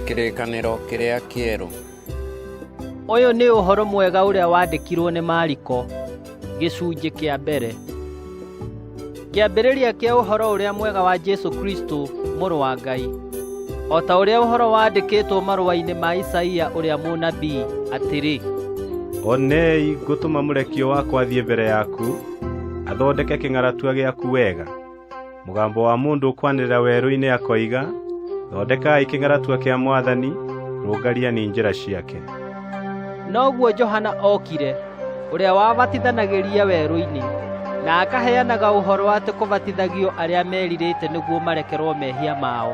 Kĩrĩkanĩro kĩrĩa kĩerũ. Ũyũ nĩ ũhoro mwega ũrĩa wandĩkirwo nĩ Mariko gĩcunjĩ kĩa mbere. Kĩambĩrĩria kĩa ũhoro ũrĩa mwega wa Jesu Kristo mũrũ wa Ngai. O ta ũrĩa ũhoro wandĩkĩtwo marũa-inĩ ma Isaia ũrĩa mũnabii atĩrĩ. Onei ngũtũma mũrekio wakwa athiĩ mbere yaku, athondeke kĩng'aratua gĩaku wega. mũgambo wa mũndũ ũkwanĩrĩra werũ-inĩ akoiga thondekai kĩng'aratua kĩa mwathani rũngariani njĩra ciake noguo johana okire ũrĩa wabatithanagĩria werũ-inĩ na akaheanaga ũhoro atĩ kũbatithagio arĩa merirĩte nĩguo marekerwo mehia mao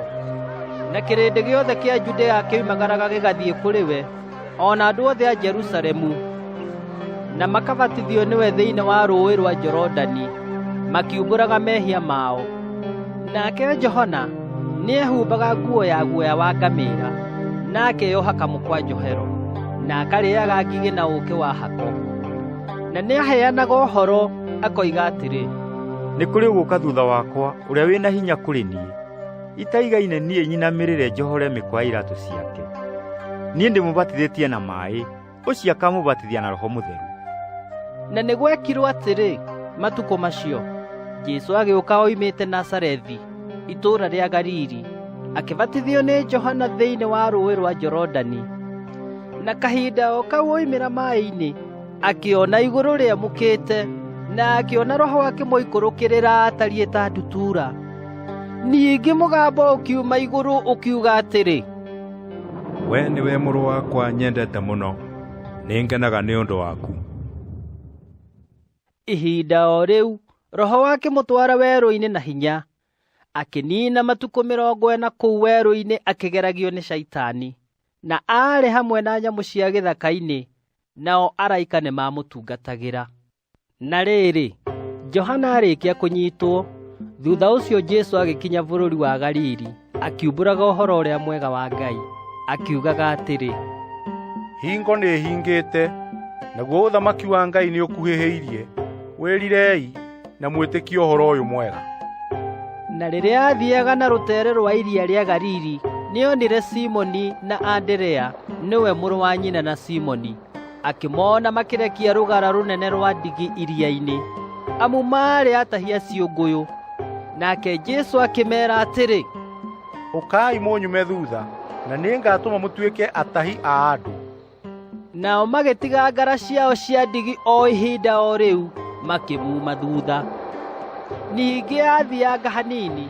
na kĩrĩndĩ gĩothe kĩa judea kĩoimagaraga gĩgathiĩ kũrĩ we o na andũ othe a Jerusalemu na makabatithio nĩwe thĩinĩ wa rũũĩ rwa Jorodani makiumbũraga mehia mao nake Johana nĩehumbaga nguo ya guoya wa ngamĩra na akeyoha kamũkwa njohero na akarĩaga ngigĩ na ũũkĩ wa hako na nĩaheanaga ũhoro akoiga atĩrĩ nĩ kũrĩ ũgũka thutha wakwa ũrĩa wĩ na hinya kũrĩ niĩ itaigaine niĩ nyinamĩrĩre njohore mĩkwa ya iratũ ciake niĩ ndĩmũbatithĩtie na maĩ ũcio akamũbatithia na roho mũtheru na nĩ gwekirwo atĩrĩ matukũ macio jesu agĩũka oimĩte nasarethi itũũra rĩa galili akĩbatithio nĩ johana thĩinĩ wa rũũĩ rwa jorodani na kahinda o kau oimĩra maĩ-inĩ akĩona igũrũ rĩamũkĩte na akĩona roho akĩmũikũrũkĩrĩra atariĩ ta ndutura Ningĩ mũgambo ũkiuma igũrũ ũkiuga atĩrĩ, we nĩwe mũrũ wakwa nyendete mũno nĩ ngenaga nĩ ũndũ waku ihinda o rĩu roho wake mũtwara werũ-inĩ na hinya akĩniina matukũ mĩrongo ĩna kũu werũ-inĩ akĩgeragio nĩ caitani na aarĩ hamwe na nyamũ cia gĩthaka-inĩ nao araika nĩ mamũtungatagĩra na rĩrĩ johana arĩkia kũnyitwo thutha ũcio jesu agĩkinya bũrũri wa galili akiumbũraga ũhoro ũrĩa mwega wa ngai akiugaga atĩrĩ hingo nĩ hingĩte naguo ũthamaki wa ngai nĩ ũkuhĩhĩirie wĩrirei na mwĩtĩkie ũhoro ũyũ mwega na rĩrĩa aathiaga na rũtere rwa iria rĩa galili nĩonire simoni na anderea nĩwe mũrũ wa nyina na simoni akĩmona makĩrekia rũgara rũnene rwa ndigi iria-inĩ amu maarĩ atahia ciũngũyũ nake Jesu akĩmeera atĩrĩ ũkai mũnyume thutha na nĩngatũma mũtuĩke atahi a andũ nao magĩtiga ngara ciao cia ndigi o ihinda o rĩu makĩmuuma thutha ningĩ athianga hanini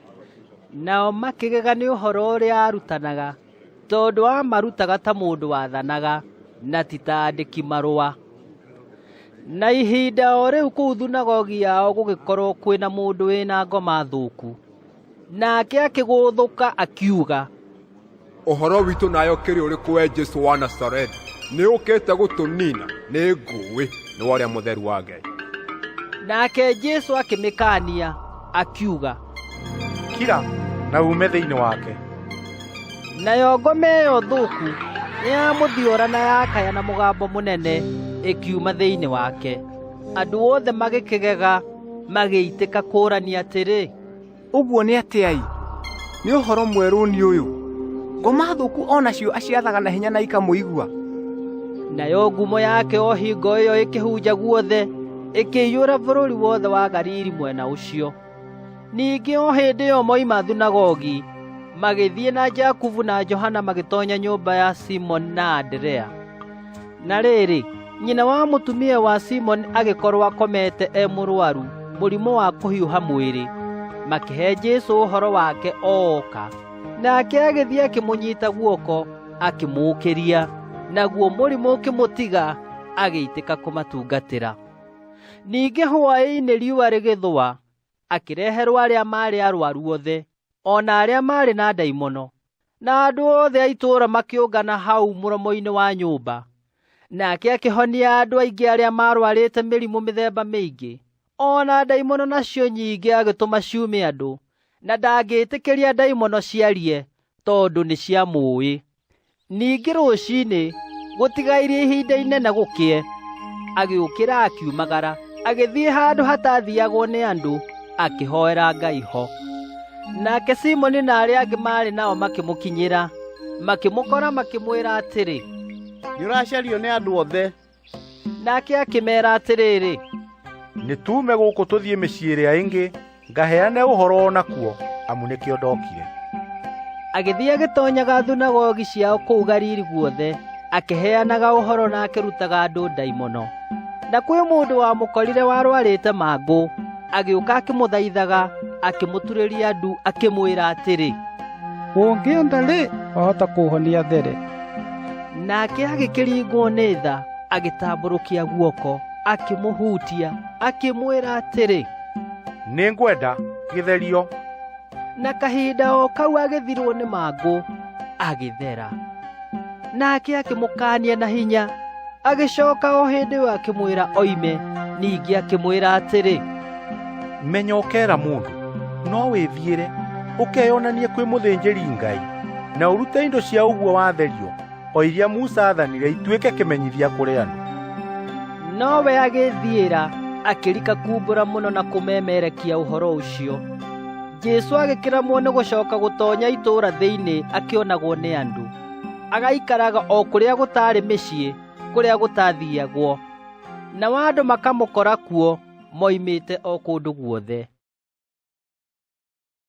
nao makĩgega nĩ ũhoro ũrĩa aarutanaga tondũ amarutaga ta mũndũ wathanaga na ti ta andĩki marũa na ihinda o rĩu kũu thunagogi yao gũgĩkorwo kwĩna mũndũ wĩna ngoma thũku nake akĩgũthũka akiuga ũhoro witũ nayo kĩrĩ ũrĩkũ we jesu wa nasarethi nĩ ũkĩte gũtũnina nĩ ngũĩ nĩ wa ũrĩa mũtheru wa ngai nake jesu akĩmĩkaania akiuga kira na ume thĩinĩ wake nayo ngome ĩyo thũku nĩyamũthiora na yakaya na mũgambo mũnene ĩkiuma thĩinĩ wake andũ othe magĩkĩgega magĩitĩka kũũrania atĩrĩ Ũguo nĩ atĩa-ĩ! Nĩ ũhoro mwerũ nĩ ũyũ! Ngoma thũku o nacio aciathaga na hinya na ikamũigua. Nayo ngumo yake o hingo ĩyo ĩkĩhunja guothe, ĩkĩiyũra bũrũri wothe wa Galili mwena ũcio. Ningĩ o hĩndĩ ĩyo moima thunagogi, magĩthiĩ na Jakubu na Johana magĩtoonya nyũmba ya Simoni na Anderea. Na rĩrĩ, nyina wa mũtumia wa Simoni agĩkorwo akomete e mũrwaru mũrimũ wa kũhiũha mwĩrĩ, makĩhe Jesu ũhoro wake ooka. Nake agĩthiĩ akĩmũnyita guoko akĩmũũkĩria, naguo mũrimũ ũkĩmũtiga agĩitĩka kũmatungatĩra. Ningĩ hwaĩ-inĩ riũa rĩgĩthũa, akĩreherwo arĩa maarĩ arwaru othe, o na arĩa maarĩ na ndaimono, Na andũ othe a itũũra makĩũngana hau mũromo-inĩ wa nyũmba. Nake akĩhonia andũ aingĩ arĩa marwarĩte mĩrimũ mĩthemba mĩingĩ. O na ndaimono nacio nyingĩ agĩtũma ciume andũ, na ndangĩtĩkĩria ndaimono ciarie tondũ nĩ cia mũĩ. Ningĩ rũcinĩ gũtigairie ihinda inene gũkĩe, agĩũkĩra akiumagara, agĩthiĩ handũ hatathiyagwo nĩ andũ akĩhoera Ngai ho. Nake Simoni na arĩa angĩ maarĩ nao makĩmũkinyĩra makĩmũkora makĩmwĩra atĩrĩ nĩũracario nĩ andũ othe nake akĩmeera atĩrĩrĩ nĩtuume gũkũ tũthiĩ mĩciĩ ĩrĩa ĩngĩ ngaheane ũhoro o nakuo amu nĩkĩo ndokire agĩthiĩ agĩtonyaga thunagogi ciao kũu Galili guothe akĩheanaga ũhoro na akĩrutaga andũ ndaimono. Na kwĩ mũndũ wamũkorire warwarĩte mangũ, agĩũka akĩmũthaithaga, akĩmũturĩria ndu, akĩmwĩra atĩrĩ, ũngĩenda-rĩ, wahota kũhonia there. Nake agĩkĩringwo nĩ tha, agĩtambũrũkia guoko, akĩmũhutia, akĩmwĩra atĩrĩ, nĩngwenda gĩtherio. na kahinda o kau agĩthirwo nĩ mangũ agĩthera nake akĩmũkaania na hinya agĩcoka o hĩndĩ ĩyo akĩmwĩra oime ningĩ akĩmwĩra atĩrĩ menya ũkera mũndũ no wĩthiĩre ũkeyonanie kwĩ mũthĩnjĩri ngai na ũrute indo cia ũguo watherio o iria Musa aathanire ituĩke kĩmenyithia kũrĩ andũ. Nowe agĩthiĩra akĩrika kumbũra mũno na kũmemerekia ũhoro ũcio. Jesu agĩkĩramwo nĩ gũcoka gũtonya itũũra thĩinĩ akĩonagwo nĩ andũ. Agaikaraga o kũrĩa gũtaarĩ mĩciĩ, kũrĩa gũtathiagwo. Nao andũ makamũkora kuo moimĩte o kũndũ guothe.